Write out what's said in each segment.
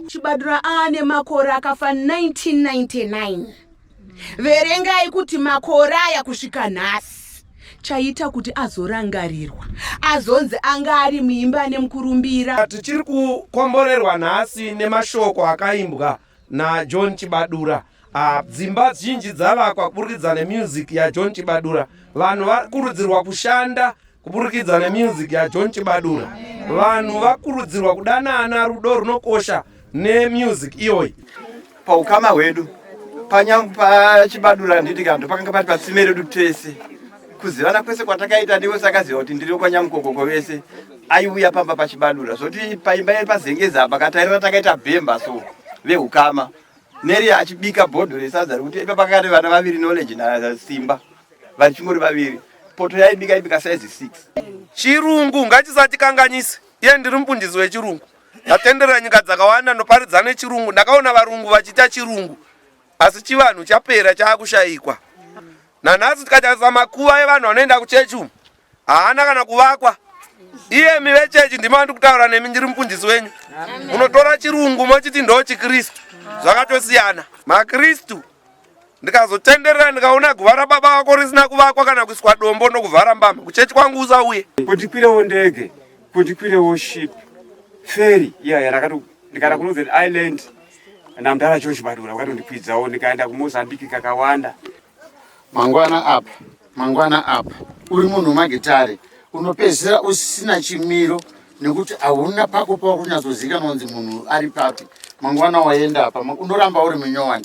Chibadura aane makore akafa 1999. Verengai kuti makore aya kusvika nhasi chaita kuti azorangarirwa azonzi anga ari muimba nemukurumbira. Tichiri kukomborerwa nhasi nemashoko akaimbwa naJohn Chibadura. Ah, dzimba zhinji dzavakwa kuburikidza nemusic yaJohn Chibadura. Vanhu vakurudzirwa kushanda Kuburikidza nemusic yaJohn Chibadura, vanhu vakurudzirwa kudanana, rudo runokosha nemusic iyoyi. Paukama hwedu panyangwe pachibadura handiti kanto pakanga pati patsime redu tese kuzivana kwese kwatakaita ndiwe sakaziva kuti ndiri kwanyamukokoko vese aiuya pamba pachibadura zvoti paimba ye pazengeza apa katairira takaita bhemba so veukama neri achibika bhodho resadza rekuti ipa pakati vana vaviri knowledge nasimba vachingori vaviri poto yaibika ibika size 6 chirungu ngachisatikanganise iye ndiri mupundisi wechirungu ndatenderera nyika dzakawanda ndoparidza nechirungu ndakaona varungu vachiita chirungu asi chivanhu chapera chaakushayikwa nanhasi tikatarisa makuva evanhu vanoenda kuchechi umu haana kana kuvakwa iyemi vechechi ndima ndiri kutaura nemi ndiri mupundisi wenyu unotora chirungu mochiti ndo chikristu zvakatosiyana makristu ndikazotenderera ndikaona guva rababa vako risina kuvakwa kana kuiswa dombo nokuvhara mbama kuchechi kwangu usauye kundikwirewo ndege kundikwirewo ship feri iya yeah, yeah, ndikaenda kunorthern island namdara chochi badura vakatondikwidzawo ndikaenda kumozambique kakawanda mangwana apa mangwana apa uri munhu wemagitare unopedzisira usina chimiro nekuti hauna pako pava kunyatsozikanwa kunzi munhu ari papi mangwana waenda apa unoramba uri munyowani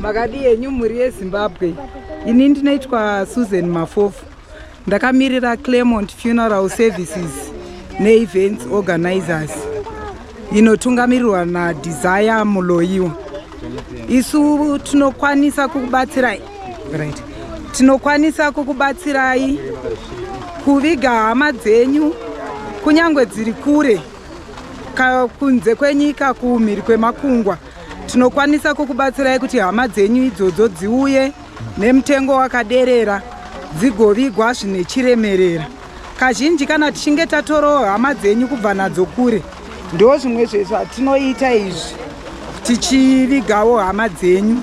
makadii henyu mhuri yezimbabwe ini ndinoitwa susan mafofu Ndakamirira Clermont Funeral Services neEvents Organizers inotungamirirwa naDesire Muloyiwa. Isu tinokwanisa kukubatsirai right. Tinokwanisa kukubatsirai kuviga hama dzenyu kunyange dziri kure kunze kwenyika kumhiri kwemakungwa tinokwanisa kukubatsirai kuti hama dzenyu idzodzo dziuye nemutengo wakaderera dzigovigwa zvine chiremerera kazhinji kana tichinge tatorawo hama dzenyu kubva nadzo kure ndo zvimwe zvezvatinoita izvi tichivigawo hama dzenyu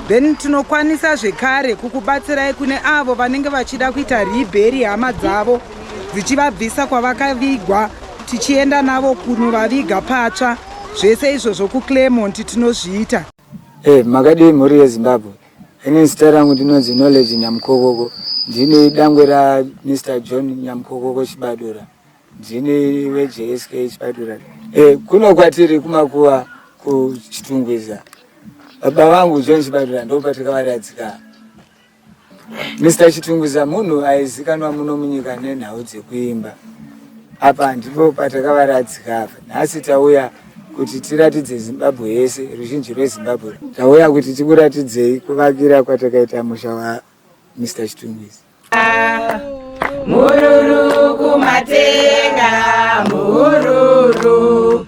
then tinokwanisa zvekare kukubatsirai kune avo vanenge vachida kuita ribheri hama dzavo dzichivabvisa kwavakavigwa tichienda navo kunovaviga patsva zvese izvo zvokuclermont tinozviita Hey, eh, makadii mhuri yezimbabwe ini zita rangu ndinonzi knowledge nyamukokoko ndini dangwe ra mr john nyamukokoko chibadura ndini vejsk chibadura hey, eh, kuno kwatiri kumakuva kuchitungwiza baba vangu john chibadura ndopatikavariadzika Mr Chitunguza munhu aizikanwa muno munyika nenhau dzekuimba apa ndipo patakavaratsika apa nhasi tauya kuti tiratidze zimbabwe yese ruzhinji rwezimbabwe tauya kuti tikuratidzei kuvakira kwatakaita musha wa mr chitunguza mhururu kumatenga mhururu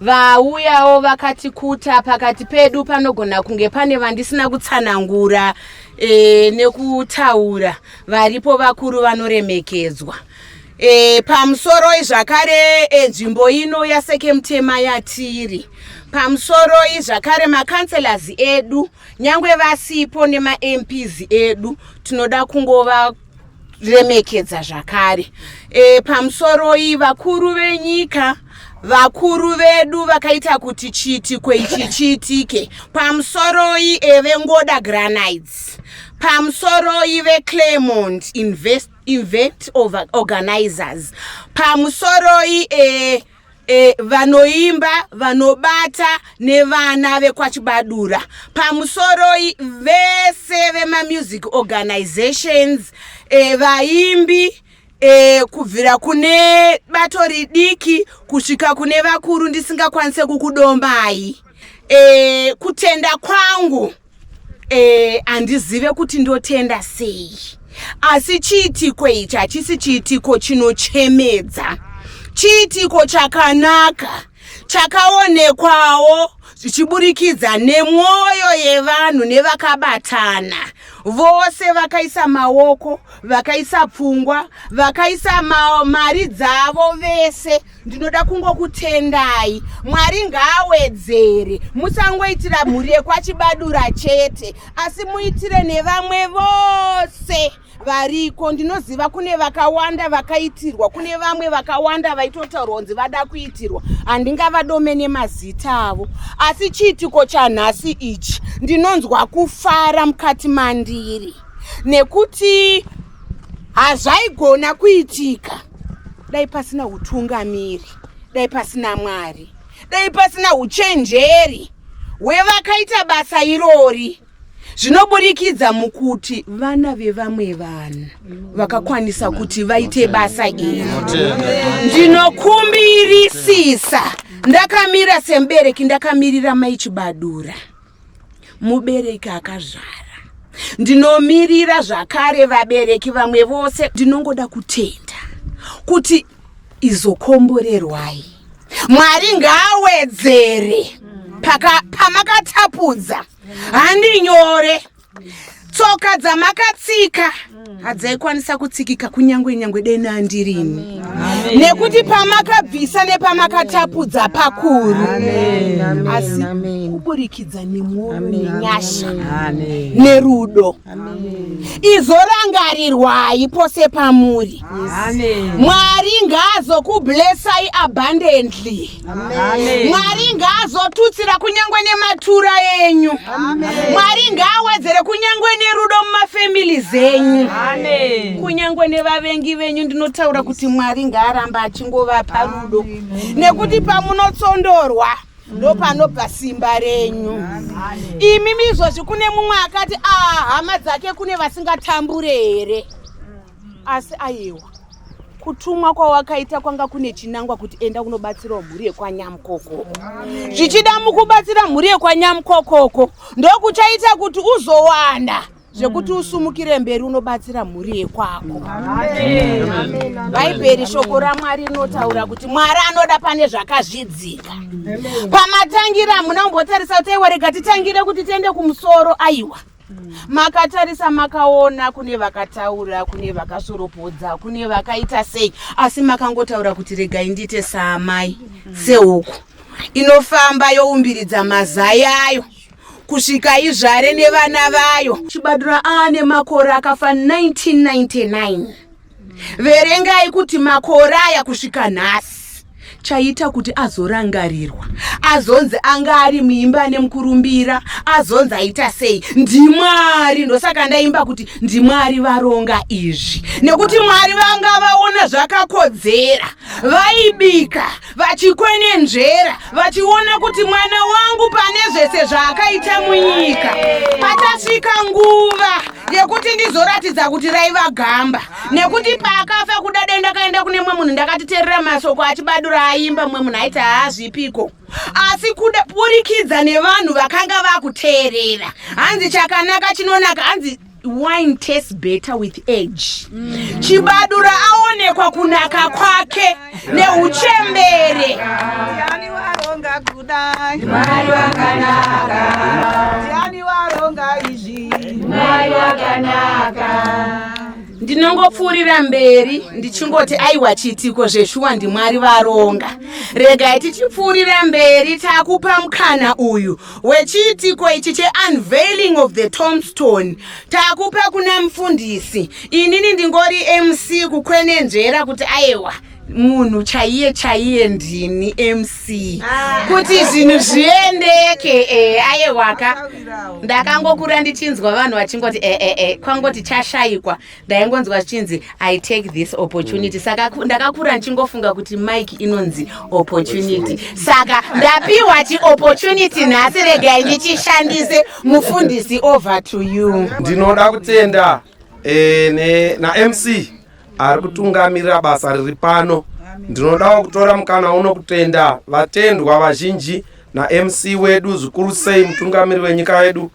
Vauyawo vakati kuta pakati pedu panogona kunge pane vandisina kutsanangura e, nekutaura varipo vakuru vanoremekedzwa e, pamusoroi zvakare e, nzvimbo e, ino yaseke mutema yatiri pamusoroi zvakare makanselas edu nyange vasipo nemamps edu tinoda kungova remekedza zvakare e, pamusoroi vakuru venyika vakuru vedu vakaita kuti chiitiko ichi chiitike pamusoroi evengoda granites pamusoroi veclermont invest, invent organizers pamusoroi e, E, vanoimba vanobata nevana vekwachibadura pamusoroi vese vemamusic organizations e, vaimbi e, kubvira kune bato ridiki kusvika kune vakuru ndisingakwanise kukudombai e, kutenda kwangu Eh, handizive kuti ndotenda sei asi chiitiko ichi hachisi chiitiko chinochemedza chiitiko chakanaka chakaonekwawo zvichiburikidza nemwoyo yevanhu nevakabatana vose vakaisa maoko vakaisa pfungwa vakaisa mari dzavo vese ndinoda kungokutendai mwari ngaawedzere musangoitira mhuri yekwachibadura chete asi muitire nevamwe vose variko ndinoziva kune vakawanda vakaitirwa kune vamwe vakawanda vaitotaurwa kunzi vada kuitirwa handingavadome nemazita avo asi chiitiko chanhasi ichi ndinonzwa kufara mukati mandiri nekuti hazvaigona kuitika dai pasina utungamiri dai pasina mwari dai pasina uchenjeri hwevakaita basa irori zvinoburikidza mukuti vana vevamwe vanhu vakakwanisa kuti vaite basa iri ndinokumbirisisa ndakamira semubereki ndakamirira maichibadura mubereki akazvara ndinomirira zvakare vabereki vamwe vose ndinongoda kutenda kuti izokomborerwai mwari ngaawedzere pamakatapudza handinyore tsoka dzamakatsika mm. hadzaikwanisa kutsikika kunyange nyangwe deni andirini nekuti pamakabvisa nepamakatapudza pakuru asi kuburikidza nemwoyo nenyasha nerudo izorangarirwai pose pamuri mwari ngaazokublessai abundantly mwari ngaazotutsira kunyangwe nematura enyu mwari ngaawedzere kunyangwe nerudo mumafamili zenyu kunyangwe nevavengi venyu ndinotaura kuti mwari ngaaramba achingovapa rudo nekuti pamunotsondorwa ndopanobva simba renyu imi mizvozvi kune mumwe akati a ah, hama dzake kune vasingatambure here asi ayewa kutumwa kwawakaita kwanga kune chinangwa kuti enda kunobatsirawo mhuri yekwanyamukokoko zvichida mukubatsira mhuri yekwanyamukokoko ndokuchaita kuti uzowanda zvekuti mm. usumukire mberi unobatsira mhuri yekwako bhaibheri shoko ramwari rinotaura kuti mwari anoda pane zvakazvidzika pamatangira muna umbotarisa kuti aiwa rega titangire kuti tiende kumusoro aiwa mm. Mm. makatarisa makaona kune vakataura kune vakasoropodza kune vakaita sei asi makangotaura kuti regai ndiite saamai mm. sehuku inofamba youmbiridza mazai ayo kusvika izvare nevana vayo chibadura aane makore akafa 1999 verengai kuti makore aya kusvika nhasi chaita kuti azorangarirwa azonzi anga ari muimba nemukurumbira azonzi aita sei ndimwari ndosaka ndaimba kuti ndimwari varonga izvi nekuti mwari vanga vaona zvakakodzera vaibika va vachikwenenzvera vachiona kuti mwana wangu pane zvese zvaakaita munyika patasvika nguva yekuti ndizoratidza kuti raiva gamba nekuti paakafa kuda dai ndakaenda kune mwe munhu ndakatiterera masoko achibadura aimba mwe munhu aiti haazvipiko asi kuda burikidza nevanhu vakanga vakuteerera hanzi chakanaka chinonaka hanzi wine tastes better with age mm. chibadura aonekwa kunaka kwake neuchembere ndinongopfuurira mberi ndichingoti aiwa chiitiko zveshuwa ndimwari varonga regai tichipfuurira mberi takupa mukana uyu wechiitiko ichi cheunveiling of the tombstone takupa kuna mufundisi inini ndingori mc kukwenenzvera kuti ayewa munhu chaiye chaiye ndini mc ah. kuti zvinhu zviendeke e, ayewaka ndakangokura ndichinzwa vanhu vachingoti ee eh, eh, kwangoti chashaikwa ndaingonzwa zvichinzi i take this opportunity mm. saka ndakakura ndichingofunga kuti mike inonzi opportunity saka ndapiwa chiopportunity nhasi regai ndichishandise mufundisi over to you ndinoda kutenda e, namc ari kutungamirira basa riri pano ndinodawo kutora mukana uno kutenda vatendwa vazhinji namc wedu zvikuru sei mutungamiri wenyika yedu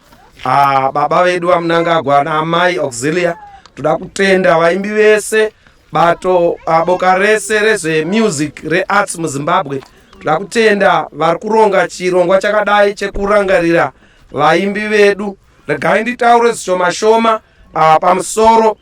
Ah, baba vedu vamunangagwa naamai auxilia toda kutenda vaimbi vese bato ah, boka rese rezvemusic rearts muzimbabwe toda kutenda vari kuronga chirongwa chakadai chekurangarira vaimbi vedu regai nditaure zvishoma shoma Ah, pamusoro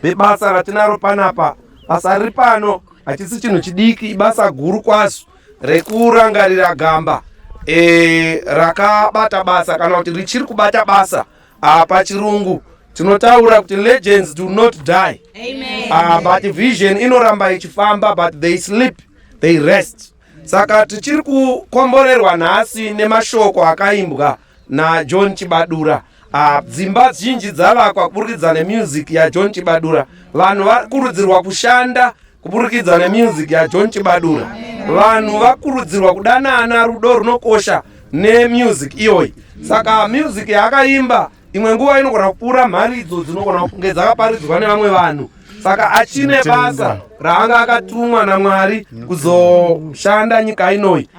pebasa ratinaro panapa basa riri pano hachisi chinhu chidiki ibasa guru kwazo rekurangarira gamba e, rakabata basa kana kuti richiri kubata basa ah, pachirungu tinotaura kuti legends do not die Amen. Ah, but vision inoramba ichifamba but they sleep they rest saka tichiri kukomborerwa nhasi nemashoko akaimbwa najohn chibadura ah, dzimba zhinji dzavakwa kuburikidza nemusic yajohn chibadura vanhu vakurudzirwa kushanda kuburikidza nemusic yajohn chibadura vanhu vakurudzirwa kudanana rudo runokosha nemusic iyoyi saka muzic yaakaimba imwe nguva inogona kupfuura mharidzo dzinogona kunge dzakaparidzwa nevamwe vanhu saka achine basa raanga akatumwa namwari kuzoshanda nyika inoi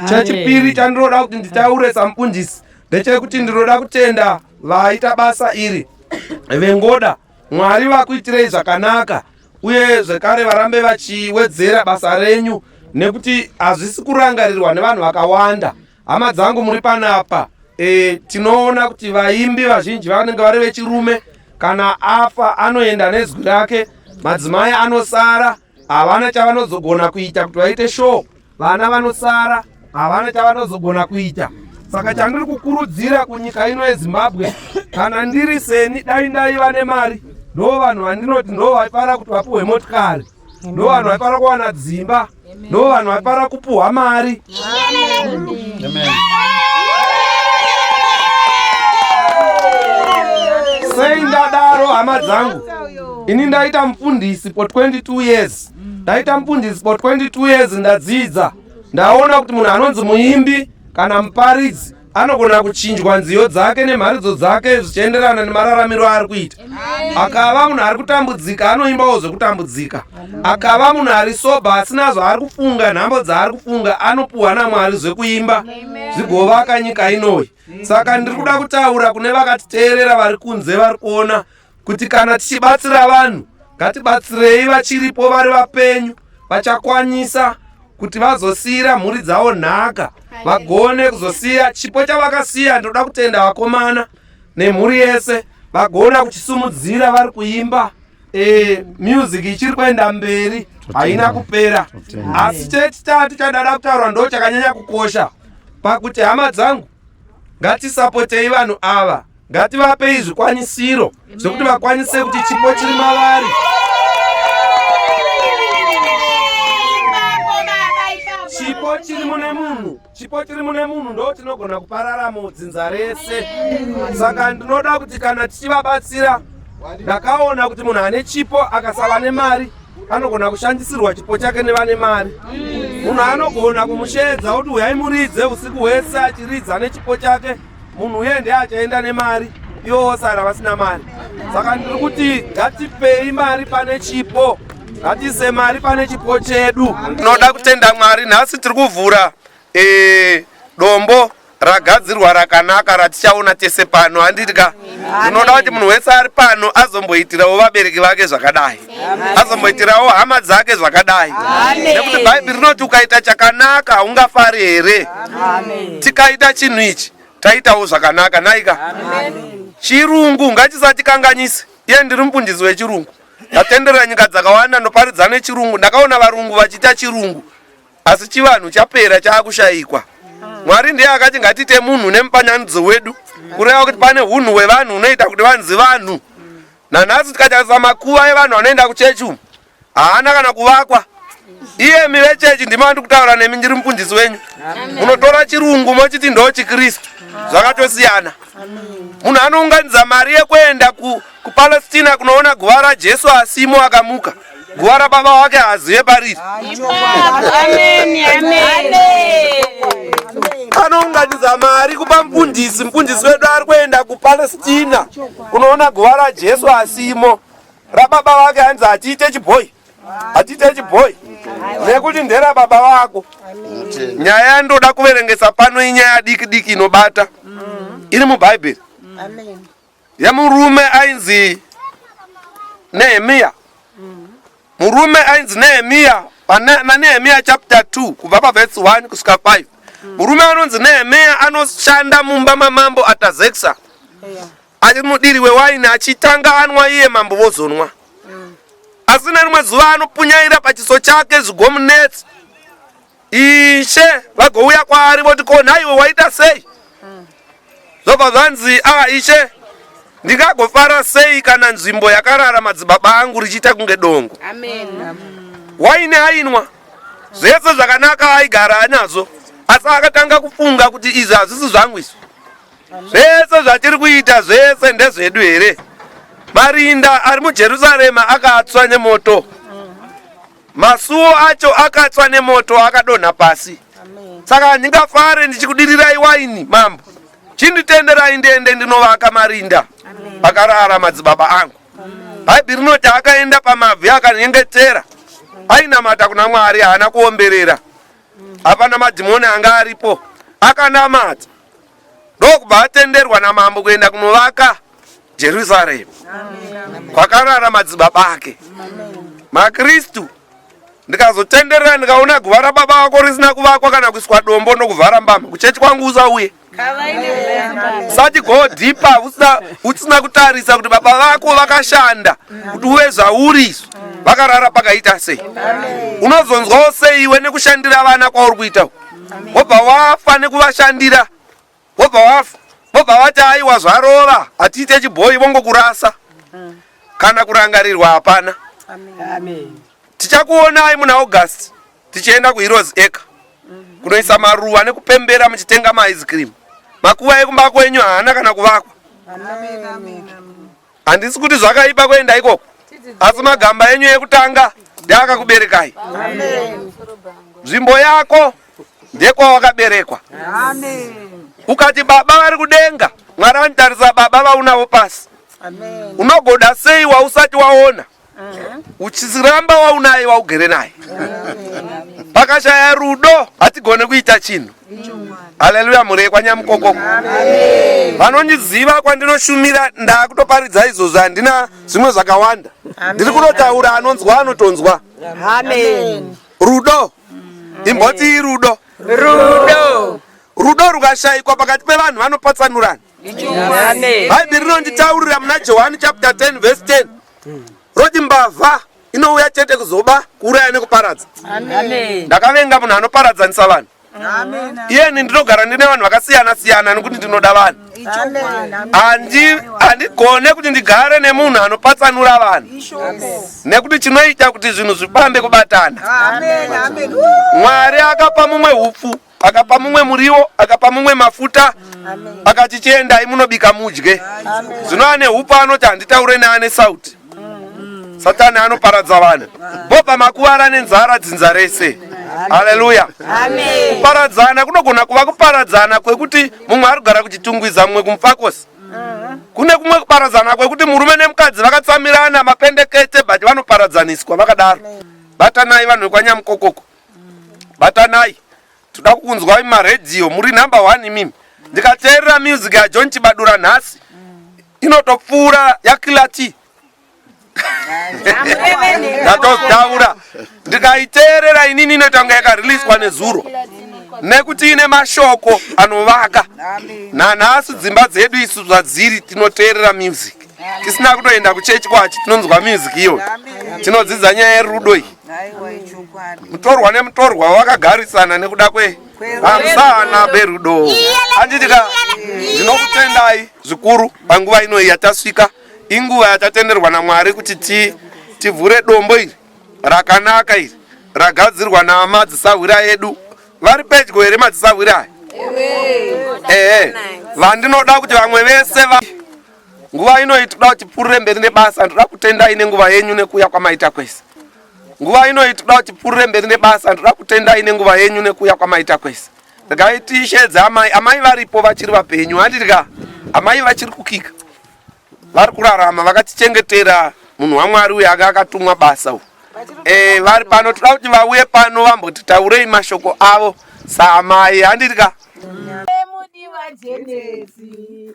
chechipiri chandinoda kuti nditaure sampunjisi ndechekuti ndinoda kutenda vaita basa iri vengoda mwari vakuitirei zvakanaka uye zvekare varambe vachiwedzera basa renyu nekuti hazvisi kurangarirwa nevanhu vakawanda Hama dzangu muri panapa e, tinoona kuti vaimbi vazhinji vanenge vari vechirume. Kana afa anoenda nezwi rake, madzimai anosara havana chavanozogona kuita kuti vaite show, vana vanosara havana chavanozogona kuita. Saka chandiri kukurudzira kunyika ino yeZimbabwe, kana ndiri seni, dai ndaiva nemari, ndo vanhu vandinoti ndo vaifara kuti vapuhwe motikari. no vanhu vaifanira kuwana dzimba no vanhu vaifanira kupuhwa mari sei ndadaro hama dzangu ini ndaita mufundisi for 22 years ndaita mufundisi for 22 years ndadzidza ndaona kuti munhu anonzi muimbi kana muparidzi anogona kuchinjwa nziyo dzake nemharidzo dzake zvichienderana nemararamiro aari kuita akava munhu ari kutambudzika anoimbawo zvekutambudzika akava munhu ari soba asina zvaari kufunga nhambo dzaari kufunga anopuhwa namwari zvekuimba zvigovaka nyika inoyi saka ndiri kuda kutaura kune vakatiteerera vari kunze vari kuona kuti kana tichibatsira vanhu ngatibatsirei vachiripo vari vapenyu vachakwanisa kuti vazosiira mhuri dzavo nhaka vagone kuzosiya chipo chavakasiya ndinoda kutenda vakomana nemhuri yese vagona kuchisumudzira vari kuimba e, music ichiri kuenda mberi haina kupera asi chechitatu chadada kutaurwa ndo chakanyanya kukosha pakuti hama dzangu ngatisapotei vanhu ava ngativapei zvikwanisiro zvekuti vakwanise kuti chipo chiri mavari chipo chiri mune munhu chipo chiri mune munhu ndo tinogona kupararamo dzinza rese saka ndinoda kuti kana tichivabatsira ndakaona kuti munhu ane chipo akasava nemari anogona kushandisirwa chipo chake nevane mari munhu anogona kumusheedza kuti huyai muridze usiku hwese achiridza nechipo chake munhu uye ndiye achaenda nemari ivo vosara vasina mari saka ndiri kuti ngatipei mari pane chipo ngatiise mari pane chipo chedu tinoda kutenda mwari nhasi tiri kuvhura e, dombo ragadzirwa rakanaka ratichaona tese pano handiti ka tinoda kuti munhu wese ari pano azomboitirawo vabereki vake zvakadai azomboitirawo hama dzake zvakadai nekuti bhaibheri rinoti ukaita chakanaka haungafari here tikaita chinhu ichi taitawo zvakanaka naika chirungu ngachisatikanganise iye ndiri mufundisi wechirungu ndatenderera nyika dzakawanda ndoparidza nechirungu ndakaona varungu vachiita chirungu asi chivanhu chapera chaakushayikwa mwari ndiye akati ngatiite munhu nemupanyanidzo wedu kureva kuti pane unhu wevanhu unoita kuti vanzi vanhu Nanhasi tikatarisa makuva evanhu vanoenda kuchechi umu haana kana kuvakwa. Iyemi vechechi ndimi vandi kutaura nemi ndiri mufundisi wenyu. Munotora chirungu mochiti ndo chiKristu. Zvakatosiyana. Munhu anounganidza mari yekuenda kuPalestina kunoona guva raJesu asimo akamuka. Guva rababa wake haazive pariri. Anounganidza mari kupa mfundisi. Mfundisi wedu ari kuenda kuPalestina kunoona guva raJesu asimo. Rababa wake hanzi hatiite chibhoyi. Hatiite chibhoyi. Nekuti ndera baba wako. Nyaya yandoda kuverengesa pano inyaya diki diki inobata. Iri muBhaibheri. yemurume ainzi Nehemiya murume ainzi Nehemiya naNehemiya chapter 2 kubva paverse 1 kusvika 5 murume anonzi Nehemiya anoshanda mumba mamambo Atazeksa ari mudiri wewaini achitanga anwa iye mambo vozonwa asi nerimwe zuva anopunyaira pachiso chake zvigomunetsi Ishe vagouya kwaari voti ko nhaiwe waita sei? Zvobva zvanzi a ah, ishe ndingagofara sei kana nzvimbo yakarara madzibaba angu richiita kunge dongo? Waini ainwa zvese zvakanaka aigara anazvo, asi akatanga kufunga kuti izvi hazvisi zvangu izvi zvese zvatiri kuita zvese ndezvedu here marinda ari mujerusarema akatswa nemoto Masuo acho akatswa nemoto akadonha pasi. Saka handingafare ndichikudirirai waini, mambo. Chinditenderai ndiende ndinovaka marinda pakarara madzibaba angu. Bhaibheri rinoti akaenda pamabvi akanyengetera ainamata kuna Mwari, haana kuomberera. Hapana madhimoni anga aripo, akanamata. ndokubva atenderwa namambo kuenda kunovaka jerusaremu kwakarara madzibaba ake makristu ndikazotenderera ndikaona guva rababa vako risina kuvakwa kana kuiswa dombo nokuvhara mbama kuchechi kwangu usauye sati go deeper usina, usina kutarisa kuti baba vako vakashanda kuti uve zvauriso vakarara pakaita sei unozonzwawo sei iwe nekushandira vana kwauri kuita uku wobva wafa nekuvashandira wobva wafa vobva vati aiwa zvarova hatiite chibhoyi vongokurasa kana kurangarirwa hapana tichakuonai muna august tichienda kuheroes acre kunoisa maruva nekupembera muchitenga maice cream makuva ekumba kwenyu haana kana kuvakwa Handisi kuti zvakaipa kuenda ikoko, asi magamba enyu ekutanga ndeakakuberekai. Nzvimbo yako ndekwawakaberekwa. Ukati baba vari kudenga, Mwari vanitarisa baba vaunavo pasi. Unogoda sei wausati waona? uchiramba waunaye waugere naye pakashaya rudo hatigone kuita chinhu haleluya mhuri yekwanyamukoko vanondiziva kwandinoshumira ndakutoparidza izvozvo handina zvimwe zvakawanda ndiri kunotaura anonzwa anotonzwa rudo imbotii rudo rudo rudo rukashayikwa pakati pevanhu vanopatsanurana bhaibheri rinonditaurira muna johani chapter 10 vese 10 roti mbavha inouya chete kuzoba kuuraya nekuparadza ndakavenga munhu anoparadzanisa vanhu iyeni ndinogara ndine vanhu vakasiyana siyana nekuti ndinoda vanhu handigone kuti ndigare nemunhu anopatsanura vanhu nekuti chinoita kuti zvinhu zvifambe kubatana mwari akapa mumwe upfu akapa mumwe muriwo akapa mumwe mafuta akati chiendai munobika mudye zvino ane upo anoti handitaure neane sauti satani anoparadza vanhu bobva makuvara nenzara dzinza rese haleluya kuparadzana kunogona kuva kuparadzana kwekuti mumwe ari kugara kuchitungwiza mumwe kumufakosi kune kumwe kuparadzana kwekuti murume nemukadzi vakatsamirana mapendekete but vanoparadzaniswa vakadaro batanai vanhu vekwanyamukokoko batanai toda kukunzwai maradio muri number one imimi ndikateerera music yajohn chibadura nhasi inotopfuura yakilati ndatotaura ndikaiteerera inini inoita kunge yakariliswa nezuro nekuti ine mashoko anovaka nanhasi dzimba dzedu isu zvadziri tinoteerera music tisina kutoenda kuchechi kwacho tinonzwa music iyoyo tinodzidza nyaya yerudo iyi mutorwa nemutorwa wakagarisana nekuda kwe vamusana berudo anditika ndinokutendai zvikuru panguva inoyi yatasvika inguva yatatenderwa namwari kuti ti tivhure dombo iri rakanaka iri ragadzirwa namadzisahwira edu vari pedyo here madzisahwira aya ehe vandinoda kuti vamwe vese va Nguva ino itoda kuti purure mberi nebasa ndoda kutendai nenguva yenyu nekuuya kwamaita kwese. Nguva ino itoda kuti purure mberi nebasa ndoda kutendai nenguva yenyu nekuuya kwamaita kwese. Regai tishedze amai, amai varipo vachiri vapenyu handidya. Amai vachiri kukika. Vari kurarama vakatichengetera munhu waMwari uyu anga akatumwa basa uyu. Eh vari pano toda kuti vauye pano vambotitaurei mashoko avo saamai handidya. Emudiwa Jenesi.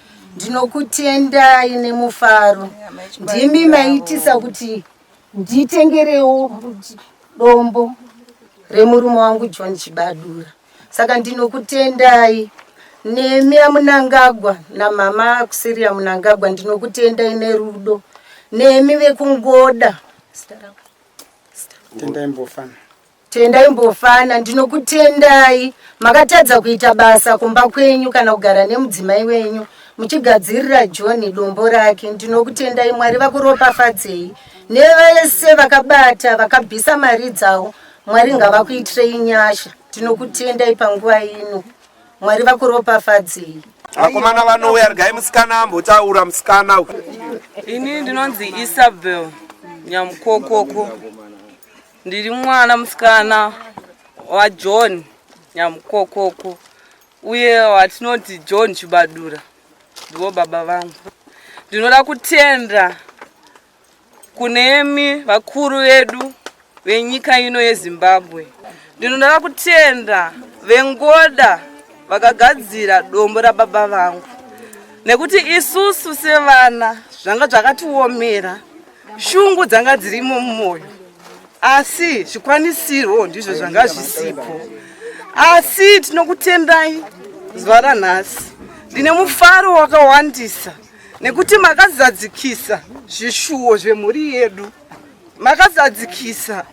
ndinokutendai nemufaro ndimi maitisa kuti nditengerewo dombo remurume wangu john chibadura saka ndinokutendai nemi amunangagwa namama akusiri amunangagwa ndinokutendai nerudo nemi vekungoda tendai mbofana Tendai Mbofana, ndinokutendai. Makatadza kuita basa kumba kwenyu kana kugara nemudzimai wenyu muchigadzirira John dombo rake. Ndinokutendai, Mwari vakuropafadzei. Nevese vakabata vakabvisa mari dzavo, Mwari ngavakuitirei nyasha. Ndinokutendai panguva ino, Mwari vakuropafadzei. Vakomana vanouya, regai musikana ambotaura musikana. Ini ndinonzi Isabel Nyamukokoko. Ndiri mwana musikana waJohn Nyamukokoko uye watinoti John Chibadura ndivo baba vangu. Ndinoda kutenda kunemi vakuru vedu venyika ino yeZimbabwe. Ndinoda kutenda vengoda vakagadzira dombo rababa vangu nekuti isusu sevana zvanga zvakatiomera shungu dzanga dzirimo mumwoyo asi zvikwanisirwo ndizvo zvanga zvisipo asi tinokutendai zuva ranhasi ndine mufaro wakawandisa nekuti makazadzikisa zvishuwo zvemhuri yedu makazadzikisa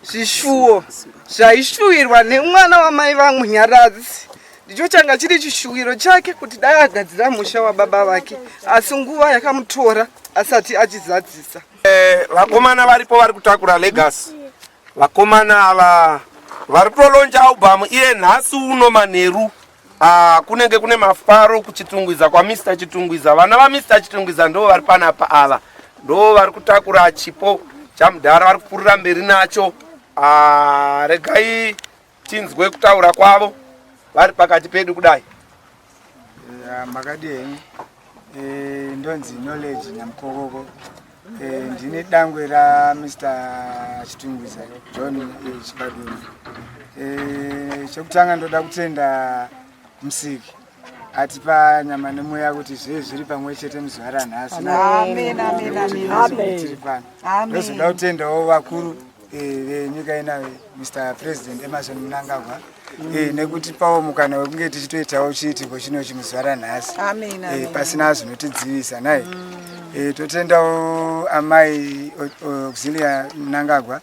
zvishuwo zvaishuwirwa nemwana wamai vangu nyaradzi ndicho changa chiri chishuwiro chake kuti dai agadzira musha wababa vake asi nguva yakamutora asati achizadzisa eh, vakomana varipo vari kutakura legasi vakomana ava vari kutolonja albhamu iye nhasi uno manheru Ah, kunenge kune mafaro kuchitungwiza kwamr chitungwiza vana vamr chitungwiza ndo vari panapa ava ndo vari kutakura chipo chamudhara vari kupurira mberi nacho ah, regai tinzwe kutaura kwavo vari pakati pedu kudai makadii Eh, ndonzi knowledge nyamukokoko eh, ndine dangwe ramr chitungwiza john eh, chibaduni chekutanga ndoda kutenda musiki atipa nyama nemweya kuti zvee zviri pamwe chete muzuva ranhasi tiri pano ndozoda kutendawo vakuru venyika inayo Mr President Emerson Mnangagwa eh, nekutipawo mukana wekunge tichitoitawo chiitiko chino chimuzuva ranhasi eh, pasina zvinotidzivisa nai mm. eh, totendawo amai Auxilia Mnangagwa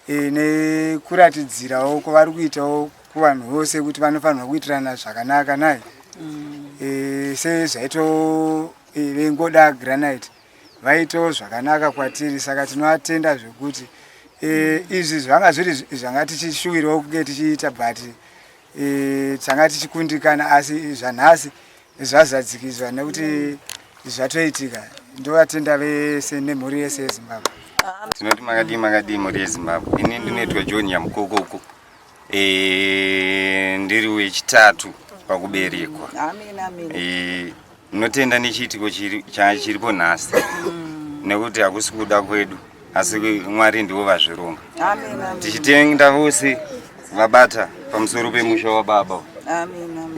eh, nekuratidzirawo kwavari kuitawo kuvanhu vose kuti vanofanirwa kuitirana zvakanaka nai mm. eh, sezvaito eh, vengoda granite eh, vaitawo zvakanaka kwatiri saka tinovatenda zvekuti e, izvi zvanga zviri zvanga tichishuwirawo kunge tichiita but e, tanga tichikundikana asi zvanhasi zvazadzikidzwa nekuti zvatoitika ndovatenda vese nemhuri yese yezimbabwe tinoti makadii makadii mhuri yezimbabwe ini ndinoitwa john yamukoko uko e, ndiri wechitatu pakuberekwa e, ndinotenda nechiitiko chiripo nhasi mm. nekuti hakusi kuda kwedu asi mwari ndivo vazvironga tichitenda vose vabata pamusoro pemusha wababa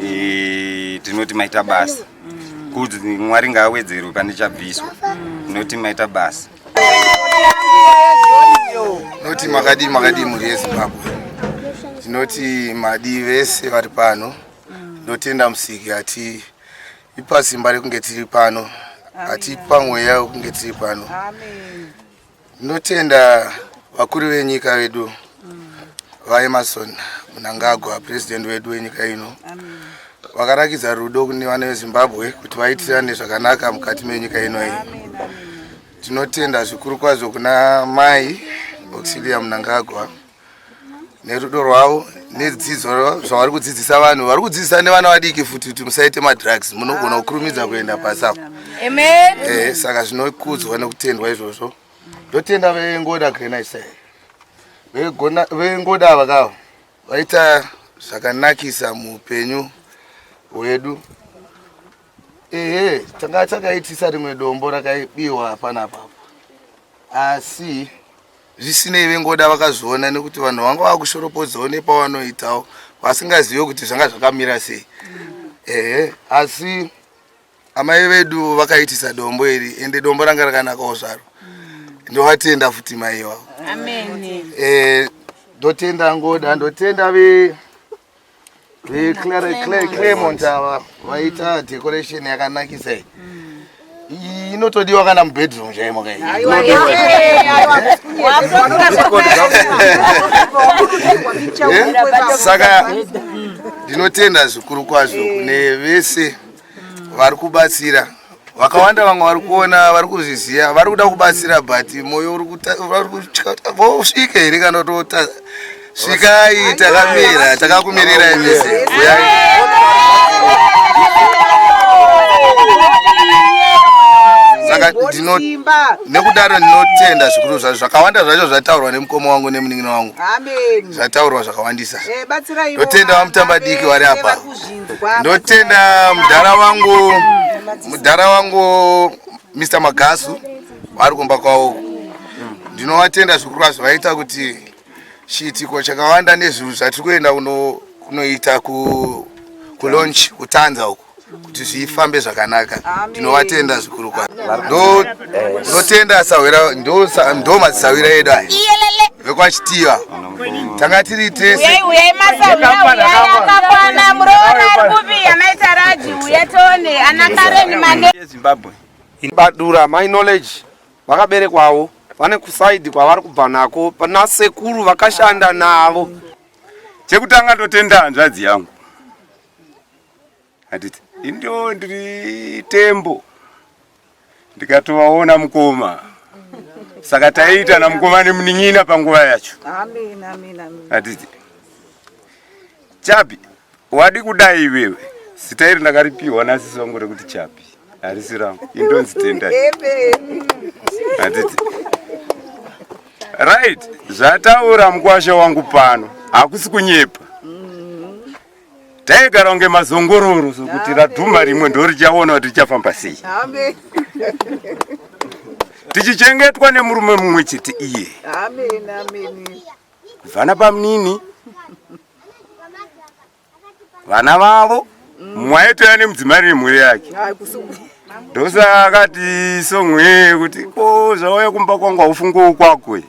e, tinoti maita basa mm. kuti mwari ngaawedzerwe pane chabviswa mm. tinoti maita basa Noti makadii makadii mhuri yeZimbabwe. Tinoti madii vese vari pano. Ndotenda musiki ati ipa simba rekunge tiri pano. Ati ipa mweya wekunge tiri pano. Ndotenda vakuru venyika vedu VaEmmerson Mnangagwa, purezidhendi wedu wenyika ino, vakarakidza rudo kune vana veZimbabwe kuti vaitirane zvakanaka mukati menyika ino iyi. Tinotenda zvikuru kwazvo kuna Mai Auxilia Mnangagwa nerudo rwavo nedzidzo zvavari kudzidzisa vanhu vari kudzidzisa nevana vadiki futi kuti musaite madrugs munogona kukurumidza kuenda pasapo eh, saka zvinokudzwa nekutendwa izvozvo ndotenda vengoda grenise vengoda ava kavo vaita zvakanakisa muupenyu hwedu ehe tanga takaitisa rimwe dombo rakaibiwa panapapa asi zvisinei vengoda vakazviona nekuti vanhu vanga vakushoropodzawo nepavanoitawo vasingazive kuti zvanga zvakamira sei ehe asi Amai vedu vakaitisa dombo iri ende dombo ranga rakanakawo zvaro. Ndovatenda futi mai iwawo. Amen. Eh ndotenda ngoda ndotenda ve ve Claremont ava vaita decoration yakanakisa iyi. Iyi inotodiwa kana mubedroom chaimo kai. Eh? Saka ndinotenda zvikuru kwazvo kune vese vari kubatsira vakawanda vamwe vari kuona vari kuzviziva vari kuda kubatsira but moyo uri kutya vosvika here kana totadza svikai takamira takakumirira imisi saka nekudaro ndinotenda zvikuru zvacho zvakawanda zvacho zvataurwa nemukoma wangu nemunin'ina wangu zvataurwa zvakawandisa eh, ndotenda vamutamba diki vari apa ndotenda mudhara wangu mudhara wangu mr magasu vari kumba kwavo ndinovatenda zvikuru kwazvo vaita kuti chiitiko chakawanda nezvinhu zvatiri kuenda kunoita kulonch kutanza uku kuti zvifambe zvakanaka tinovatenda zvikuru kwazvo ndotenda sahwira ndo madzisahwira edu aya vekwachitiva tanga tiri tese uyai uyai masauna uyai akakwana muroora ari kupi anaita raji uya tone ana kareni mane zimbabwe badura my knowledge vakaberekwawo vane kusaidi kwavari kubva nako pana sekuru vakashanda navo chekutanga ndotenda hanzvadzi yangu handiti indo ndiri tembo ndikatovaona mukoma saka taiita namukoma nemunin'ina panguva yacho handiti chapi wadi kudai iwewe zita iri ndakaripiwa nasisi vangu rekuti chapi harisi rangu indonzi tenda handiti right zvataura mukwasha wangu pano hakusi kunyepa taigara kunge mazongororo sokuti radhuma rimwe ndorichaona kuti richafamba sei tichichengetwa nemurume mumwe chete iye vana bamunini vana vavo mumwe aitouya nemudzimai remhuri yake ndosa akati songwe kuti ko zvauya kumba kwangu haufungowo kwako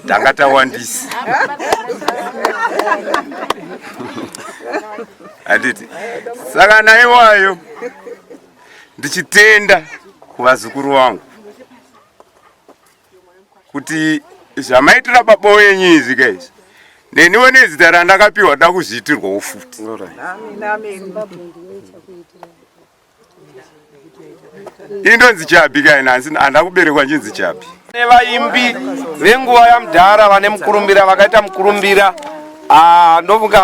tanga tawandisa handiti saka naiwayo ndichitenda kuvazukuru vangu kuti zvamaitira baba wenyu izvi kaizvi neniwo nezita randakapiwa da kuzviitirwawo futi indonzi chabi kai nansi handa kuberekwa ndinzi chabi nevaimbi venguva yamudhara vane mukurumbira vakaita mukurumbira ah, ndofunga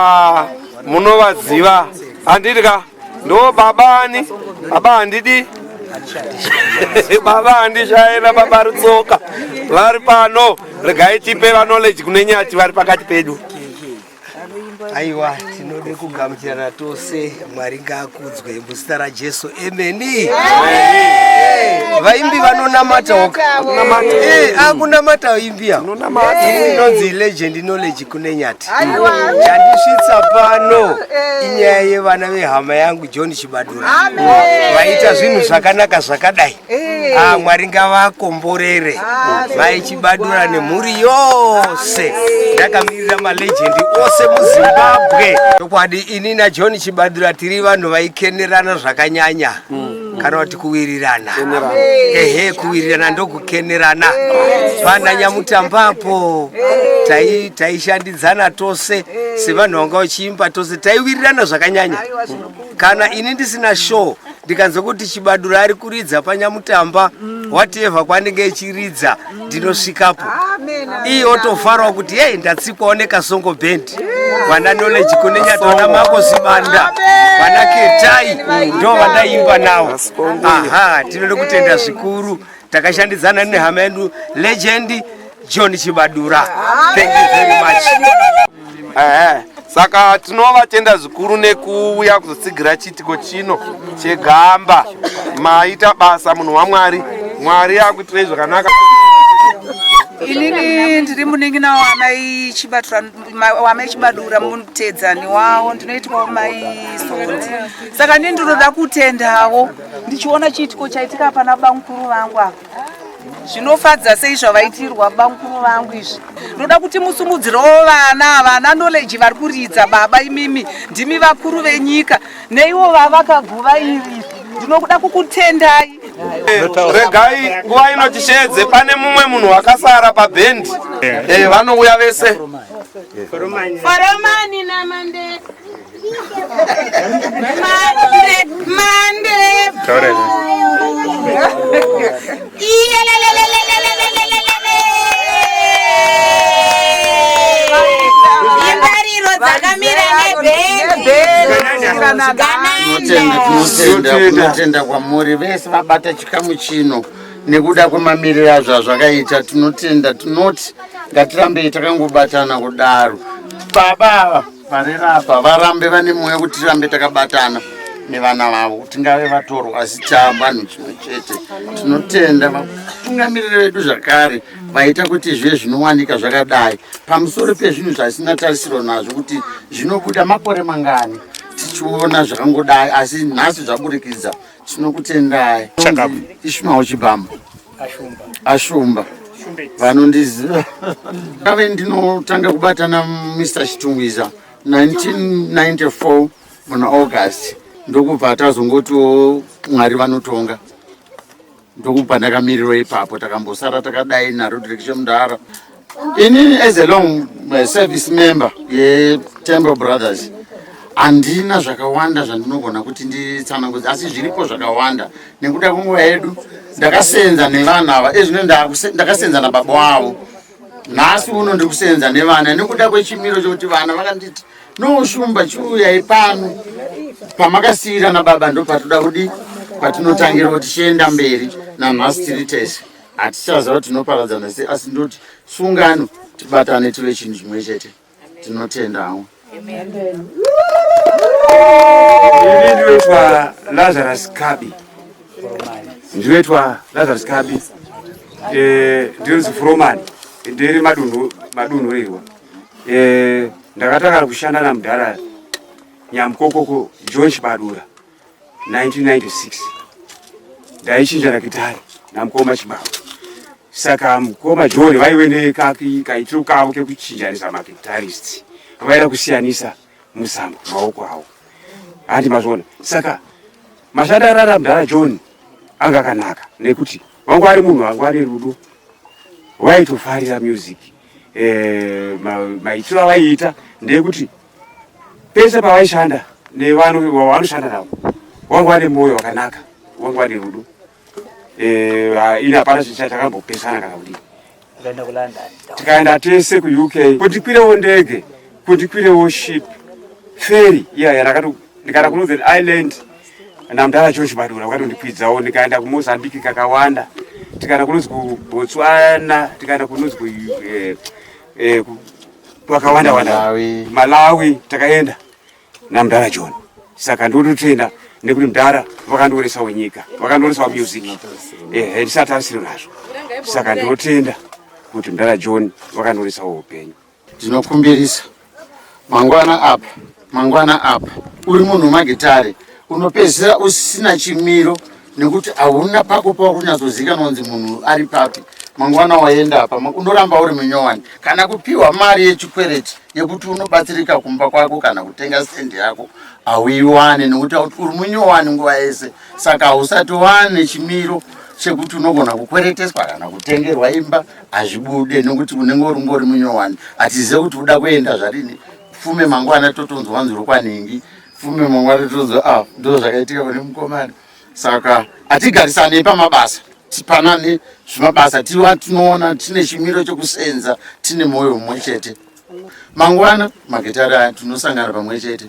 munovaziva handidi ka ndo baba ani baba handidi baba handishaira baba rutsoka vari pano regai tipe vanology kune nyati vari pakati pedu aiwa tinode kugamuchirana tose mwari ngaakudzwe muzita rajesu emeni vaimbi vanonamata akunamata vaimbi eh, inonzi legend knowledge kune nyati chandisvitsa pano eh. inyaya yevana vehama yangu john chibadura vaita zvinhu zvakanaka zvakadai Hey. Ah, mwari ngavakomborere ah, vaichibadura nemhuri yose ndakamirira malegendi ose muzimbabwe chokwadi ini najohn chibadura tiri vanhu vaikenerana zvakanyanya mm. kana kuti kuwirirana ehe kuwirirana ndokukenerana pana nyamutambapo taishandidzana tai tose sevanhu vanga vachiimba tose taiwirirana zvakanyanya kana ini ndisina show ndikanzwa kuti chibadura ari kuridza panyamutamba mm. whatever kwaanenge echiridza mm. ndinosvikapo iye otofarwa kuti yei ndatsikwawo nekasongo band vana knowledge kune nyatwana mako zibanda vana ketai ndo vandaimba nawo aha tinoda kutenda zvikuru takashandidzana nehama yedu legend john chibadura thank you very much Ehe. saka tinovatenda zvikuru nekuuya kuzotsigira chiitiko chino chegamba maita basa munhu wamwari mwari akuitirei zvakanaka inini ndiri munin'ina wamai chibatura ma- wamai chibadura mutedzani wawo ndinoitwawo mai sondi saka ndini ndinoda kutendawo ndichiona chiitiko chaitika pana bamukuru vangu apa zvinofadza sei zvavaitirwa bamukuru vangu izvi ndoda kuti musumudzirewo vana vana knowledge vari kuridza baba imimi ndimi vakuru venyika neiwo vavakaguva iri ndinokuda kukutendai regai nguva ino tisheedze pane mumwe munhu wakasara pabhendi eh, vanouya vese foromani namandeka tinotenda kwamuri vese vabata chikamu chino nekuda kwemamiriro azvo azvakaita tinotenda tinoti ngatirambei takangobatana kudaro baba ava Varera apa varambe vane mwoyo kuti tirambe takabatana nevana vavo tingave vatorwa asi chavanhu chimwe chete tinotenda vatungamiriri vedu zvakare vaita kuti zvive zvinowanika zvakadai pamusoro pezvinhu zvaisina tarisiro nazvo kuti zvinobuda makore mangani tichiona zvakangodai asi nhasi zvaburikidza tinokutendai Chakapu. ishmael chibamba Ashumba. ashumba Shumbe. vanondiziva ndave ndinotanga kubata namr chitungwiza 1994 muna august ndokubva tazongotiwo mwari vanotonga ndokubva ndakamirirwa ipapo takambosara takadai narodrikshe mudhara inini as a long uh, service member yetemple brothers handina zvakawanda zvandinogona kuti nditsanangudza asi zviripo zvakawanda nekuda kwenguva yedu ndakasenza nevanhu ava ezvino ndakasenza nababa wavo nhasi uno ndiri kusenza nevana nekuda kwechimiro chokuti vana vakanditi noushumba chiuyai pano pamakasiira nababa ndo patoda kudi patinotangirawo tichienda mberi nanhasi tiri tese hatichaziva kuti tinoparadzana sei asi ndoti sungano tibatane tive chinhu chimwe chete tinotendawo ini ndinoitwa lazarus kabi ndinoitwa lazarus kabi eh, ndinonzi furomani ndiri madunhu madunhu rirwa eh, ndakatanga kushanda namudhara nyamukokoko john chibadura 1996 ndaichinja rakitari namukoma chibaba saka mukoma john vaive nekaitiro kavo kekuchinjanisa makitarists vaida kusiyanisa muzambo maoko avo handi mazvona saka mashandi arara mdara john anga akanaka nekuti wangu ari munhu wangu ari rudo vaitofarira music eh, maitiro avaiita ndeyekuti ma pese pavaishanda nevanhu vavanoshanda navo wanga vane mwoyo wakanaka wanga vane rudo eh, ini hapana chakambopesana kana kudii tikaenda tese kuuk kuti kwirewo ndege kuti kwirewo ship feri iya yarakati ndikaenda kunorthern island namdara cho chibadura vakanondikwidzawo ndikaenda kumozambique kakawanda tikaenda kunonzi kubotswana tikaenda kunonzi eh, eh, twakawanda wanda Malawi. Malawi takaenda namdara John saka ndototenda nekuti mdara vakandionesa wenyika vakandionesa wamusic ehe ndisati asiri nazvo saka ndinotenda kuti mdara John vakandionesa weupenyu Ndinokumbirisa mangwana apa mangwana apa uri munhu wemagitare unopedzisira usina chimiro nekuti hauna pako pauri kunyatsozivikanwa kunzi munhu ari papi mangwana waenda apa unoramba uri munyowani kana kupiwa mari yechikwereti yekuti unobatsirika kumba kwako kana kutenga stendi yako hauiwane nekuti uri munyowani nguva yese saka hausati wane chimiro chekuti unogona kukwereteswa kana kutengerwa imba hazvibude nekuti unenge uri ngori munyowani hatizive kuti uda kuenda zvarini fume mangwana totonzwa wanzi rokwanhingi fume mangwana totonzwa ah, ndo zvakaitika pane mukomana saka hatigarisanei pamabasa tipanane zvimabasa tiwa tinoona tine chimiro chekusenza tine mwoyo mumwe chete mangwana magitari aya tinosangana pamwe chete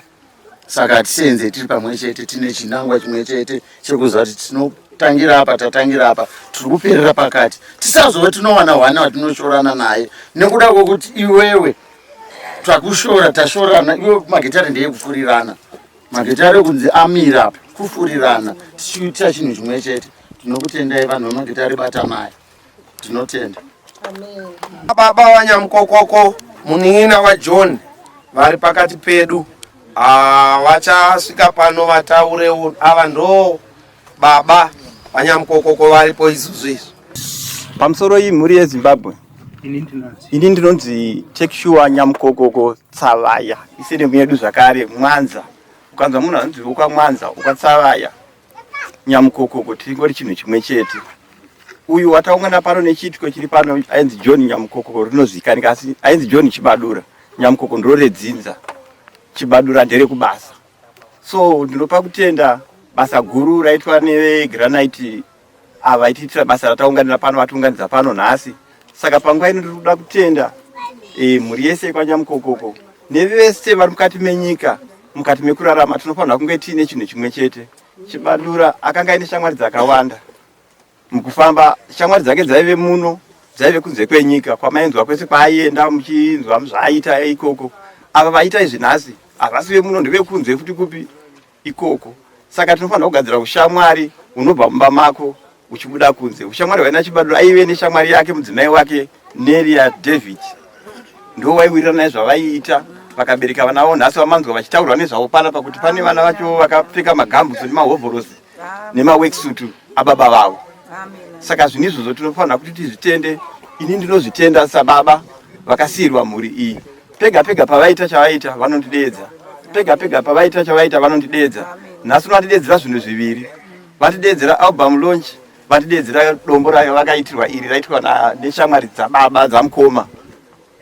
saka hatisenze tiri pamwe chete tine chinangwa chimwe chete chekuziva kuti tinotangira apa tatangira apa tiri kuperera pakati tisazove tinowana hwana watinoshorana naye nekuda kwekuti iwewe takushora tashorana iwe magitare ndeye kufurirana magitare kunzi amira apa kufurirana tichiitira chinhu chimwe chete tinokutendai vanhu vemagitare batamai tinotenda baba wanyamukokoko munin'ina wajohn vari pakati pedu ah, vachasvika pano vataurewo ava ndoo baba vanyamukokoko varipo izuzu izvi pamusoro iyi mhuri yezimbabwe ini ndinonzi tekishuwa nyamukokoko tsavaya isiri mwedu zvakare mwanza ukanzwa munhu anonzi ukamwanza ukatsavaya nyamukokoko tiringori chinhu chimwe chete uyu wataungana pano nechiitiko chiri pano ainzi john nyamukokoko rinozikanika asi ainzi john chibadura nyamukoko ndiro redzinza chibadura nderekubasa so ndinopa kutenda basa guru raitwa nevegranite ava vaitiitira basa rataunganira pano vatiunganidza pano nhasi saka panguva ino ndiri kuda kutenda e, mhuri yese yekwanyamukokoko nevese vari mukati menyika mukati mekurarama tinofanira kunge tiine chinhu chimwe chete chibadura akanga aine shamwari dzakawanda Mukufamba shamwari dzake dzaive muno dzaive kunze kwenyika kwamainzwa kwese kwaaienda muchinzwa zvaaita ikoko. Ava vaita izvi nhasi havasi vemuno ndevekunze futi kupi ikoko. Saka tinofanira kugadzira ushamwari unobva mumba mako uchibuda kunze. Ushamwari hwaina Chibadura aive neshamwari yake mudzimai wake Neria David ndo waiwirirana nezvavaiita vakabereka vana vavo nhasi vamanzwa vachitaurwa nezvavo panapa kuti pane vana vacho vakapfeka magambusi nemahovhorosi nemaworksuit ababa vavo saka zvinhu izvozvo tinofanira kuti tizvitende ini ndinozvitenda sababa vakasiirwa mhuri iyi pega pega pavaita chavaita vanondideedza pega pega pavaita chavaita vanondideedza nhasi unondideedzera zvinhu zviviri vatideedzera album launch vatideedzera dombo rayo vakaitirwa iri raitwa neshamwari dzababa dzamukoma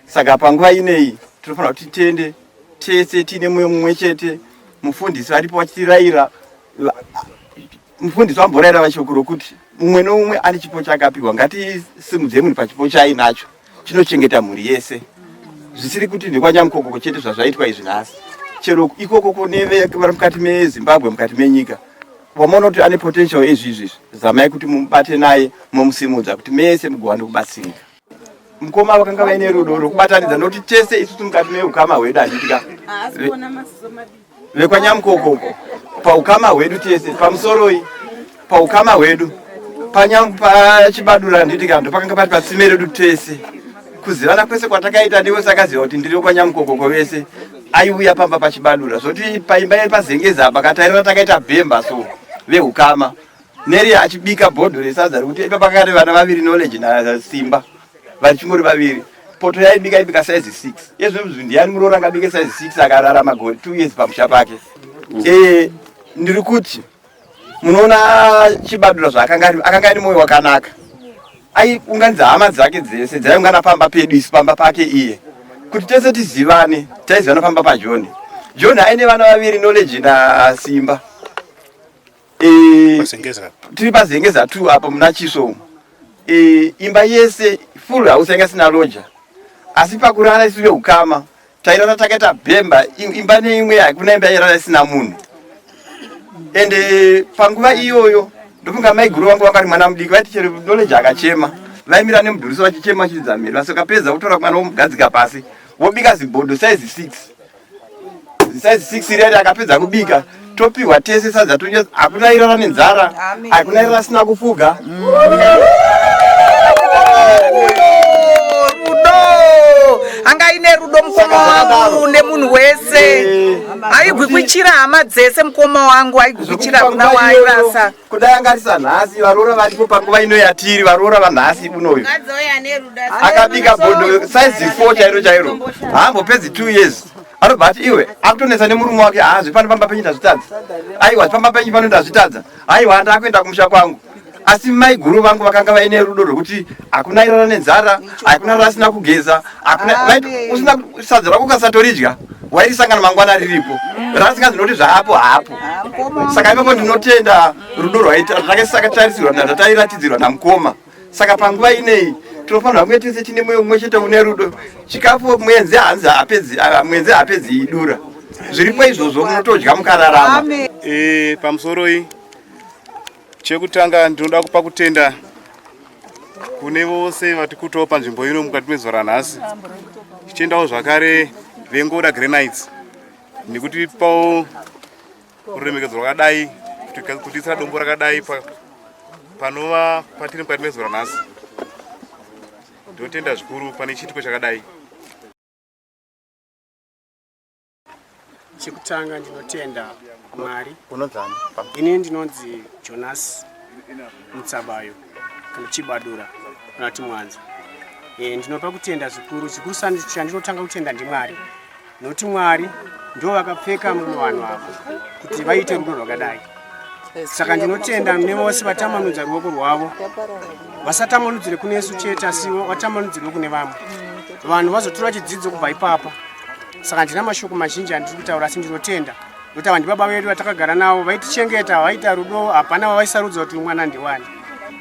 saka panguva ineyi tinofanira kuti titende tese tiine mumwe mumwe chete mufundisi varipo vachitiraira mufundisi wambora irava shoko rokuti mumwe noumwe ane chipo chakapiwa ngatisimudze munhu pachipo chaainacho chinochengeta mhuri yese zvisiri kuti ndekwanyamukokoko chete zvazvaitwa izvi nhasi chero ikokoko neve vari mukati mezimbabwe mukati menyika wamaona kuti ane potential ezvi izvi izvi zamai kuti mubate naye momusimudza kuti mese mugowane kubatsirika mukoma vakanga vaine rudo rwekubatanidza nokuti tese isusu mukati meukama hwedu handitya vekwanyamukokoko paukama hwedu tese pamusoroi paukama hwedu pachibadura handiti kando pakanga pati patsime redu tese kuzivana kwese kwatakaita ndiwe sakaziva kuti ndiri wekwanyamukokoko vese aiuya pamba pachibadura zvoti paimba yepazengeza apa katairira takaita bhemba so veukama Neri achibika bhodho resadza rekuti ipa pakare vana vaviri knowledge nasimba vachingori vaviri poto yaibika ibika size six yezvemuzvi ndiyani muroora angabike size six akarara magore two years pamusha pake mm. e, ndiri kuti munoona chibadura zvaakanga akanga ari mwoyo wakanaka aiunganidza hama dzake dzese dzaiungana pamba pedu isu pamba pake iye kuti tese tizivane taizivana pamba pajoni joni aine vana vaviri knowledge nasimba Eh, tiri pazengeza two apa muna chiso umu eh, imba yese full house yanga sina loja asi pakurara isu veukama tairara takaita bhemba imba neimwe hakuna imba yairara isina munhu ende eh, panguva iyoyo ndofunga maiguru vangu vanga ri mwana mudiki vaiti chero knowledge akachema vaimira nemudhuriso vachichema chiridza mhiri vasokapedza kutora mwana womugadzika pasi wobika zibhodho saizi six size six iri yati akapedza kubika topihwa tese sadza tonyasa hakuna irara nenzara hakuna irara asina kufuga anga aine rudo mukoma wangu nemunhu wese aigwikwichira hama dzese mukoma wangu aigwikwichira kuna waairasa kudai angarisa nhasi varoora varipo panguva ino yatiri varoora vanhasi unoyu akabika bodo saizi four chairo chairo haambopedzi two years anobva ati iwe akutonetsa nemurume wake haa zvepano pamba penyu ndazvitadza aiwa zvepamba penyu pano ndazvitadza aiwa ndaakuenda kumusha kwangu asi maiguru vangu vakanga vaine rudo rwekuti hakuna irara nenzara hakuna rarasina kugeza usina sadza rako ukasatoridya wairisangana mangwana riripo rasinga ndinoti zvaapo hapo saka ipapo ndinotenda rudo rwaitakatarisirwa ndatairatizirwa namukoma saka panguva inei tinofanira kunge tese chine mweyo mumwe chete une rudo chikafu mwenzi hanzi hapedzi ah, mwenzi hapedzi idura zviripo izvozvo munotodya mukararama e, pamusoro iyi Chekutanga ndinoda kupa kutenda kune vose vati kutawo panzvimbo ino mukati mezuva ranhasi tichiendawo zvakare vengoda granites nekuti pawo ruremekedzo rwakadai kutiisira dombo rakadai panova patiri mukati mezuva ranhasi ndinotenda zvikuru pane chiitiko chakadai Chekutanga ndinotenda Mwari. Unonzani? Ini ndinonzi Jonas Mutsabayo kana Chibadura kana kuti Mwanza. Eh, ndinopa kutenda zvikuru zvikuru sani chandinotanga kutenda ndiMwari. Nokuti Mwari ndivo vakapfeka mumwe vanhu avo kuti vaite rudo rwakadai. saka ndinotenda nevose vatambanudza ruoko rwavo vasatambanudzire kune yesu chete asi vatambanudzirwe kune vamwe vanhu vazotora chidzidzo kubva ipapa saka handina mashoko mazhinji andiri kutaura asi ndinotenda nokuti ava ndibaba vedu vatakagara navo vaitichengeta vaita rudo hapana vavaisarudza kuti mwana ndiwani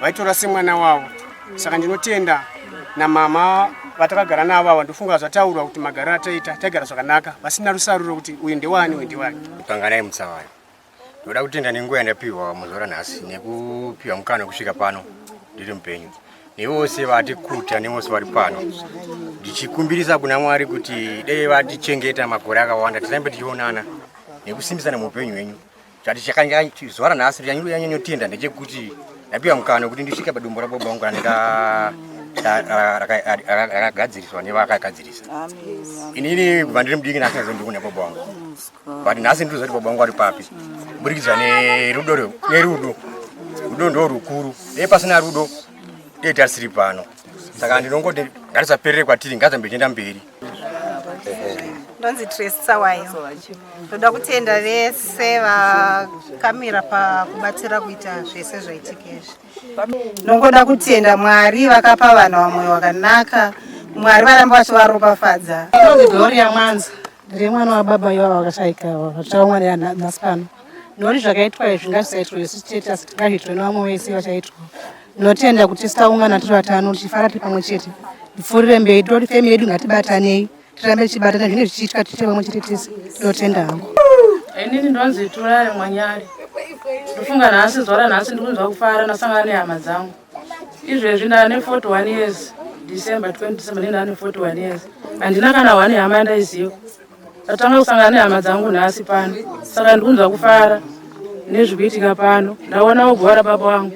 vaitora semwana wavo saka ndinotenda namama vatakagara navo ava ndofunga zvataurwa kuti magaro ataita taigara zvakanaka vasina rusaruro kuti uyu ndewani uyu ndewani kanganai mutsavana Ndoda kutenda nenguva yandapihwa muzuva ranhasi nekupihwa mukana wekusvika pano ndiri mupenyu nevose vati kuta nevose vari pano ndichikumbirisa kuna mwari kuti dei vatichengeta makore akawanda tirambe tichionana nekusimbisana muupenyu hwenyu zvati chakazuva ranhasi ndichanyanyotienda ndechekuti ndapiwa mukana wekuti ndisvike padumbu rababa vangu raneka rakagadziriswa nevakagadzirisa inini kubva ndiri mudiki nasinazondikuona baba wangu but nhasi ndiri zati baba vangu vari papi kuburikidza nerudo nerudo rudo ndo rukuru dei pasina rudo dei tarisiri pano saka ndinongoti ngatisaperere kwatiri ngazambe tienda mberi ndonzi tresisawayo ndoda kutenda vese vakamira pakubatsira kuita zvese zvaitikesvi ndongoda kutenda mwari vakapa vanhu vamoyo wakanaka mwari varamba vachivaropafadza ndonzi gloria mwanza Ndiri mwana wababa iwavo vakashaika ivavo vatichaungwanira nhasi pano noti zvakaitwa izvi ngazvisaitwe isu chete asi ngazviitwe nevamwe vese vachaitwa notenda kuti tisaungana tiri vatano tichifara tiri pamwe chete ndipfuurire mberi toti femi yedu ngatibatanei tirambe tichibatana zvinenge zvichiitwa tiite pamwe chete tese ndinotenda hangu inini ndonzi turare mwanyari ndofunga nhasi zuva ranhasi ndikunzwa kufara ndasangana nehama dzangu izvezvi ndane 41 years december 20 december ne ndane 41 years handina kana one hama yandaiziva tatanga kusangana nehama dzangu nhasi pano saka ndikunzwa kufara nezviri kuitika pano ndaona wogwara baba wangu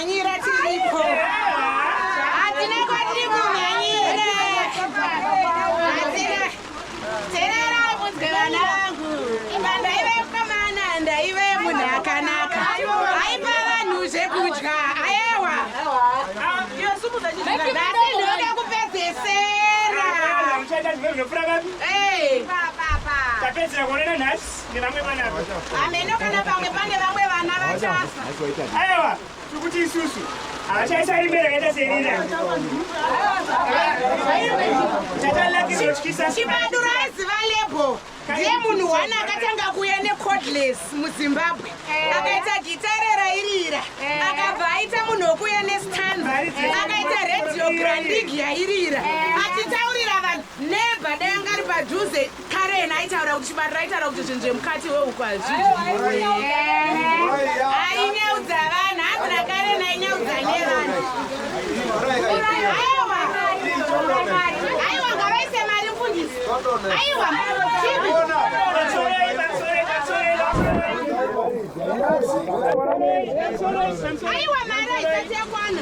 Manyira tiripo. Hatina kwatiri kumanyira. Hatina. Terera munzwe vana vangu. Imba ndaive mukomana ndaive munhu akanaka. Aipa vanhu zvekudya. Ayewa. Nhasi ndinoda kupedzesera. Hey. Tapedzera kuonana nhasi. nevamwe vana ameno kana pamwe pane vamwe vana vachafa aiwa tikuti isusu havachaisarimbere akaita serira chibadura aiziva lebo ndiye munhu one akatanga kuuya necodless muzimbabwe eh. akaita gita rerairira eh. akabva aita munhu wokuuya nestan akaita radio grandig yairira eh. achitaurira vanhu neba dai angari padhuze kare yena aitaura kuti chibariro aitaura kuti zvinhu zvemukati wehuku hazviaineudza vanhu amura kare nainyeudza nevanhu aiwa ngavaise mari mfundisi aiwa aiwa mari aisati yakwana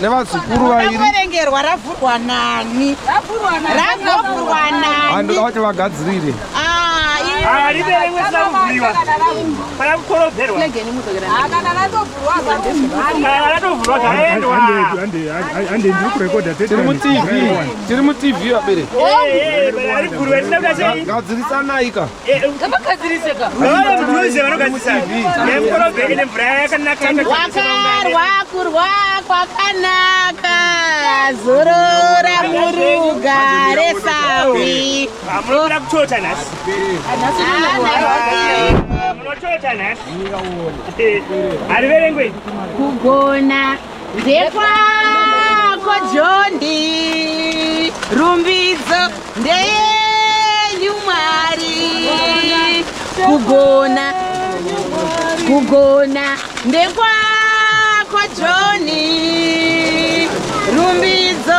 nevazukuru vairiverengerwa ravhurwa nani ravhurwa nani vati vagadzirire tiri mutv tiri mutv vabereki gadzirisanayi ka wakarwa kurwa kwakanaka zorora murugare sawi munoda kutota nhasi munotota nhasi hariverengwe kugona Ndekwako Jondi, rumbidzo ndeyenyu Mwari, kugona kugona ndekwako Joni, rumbidzo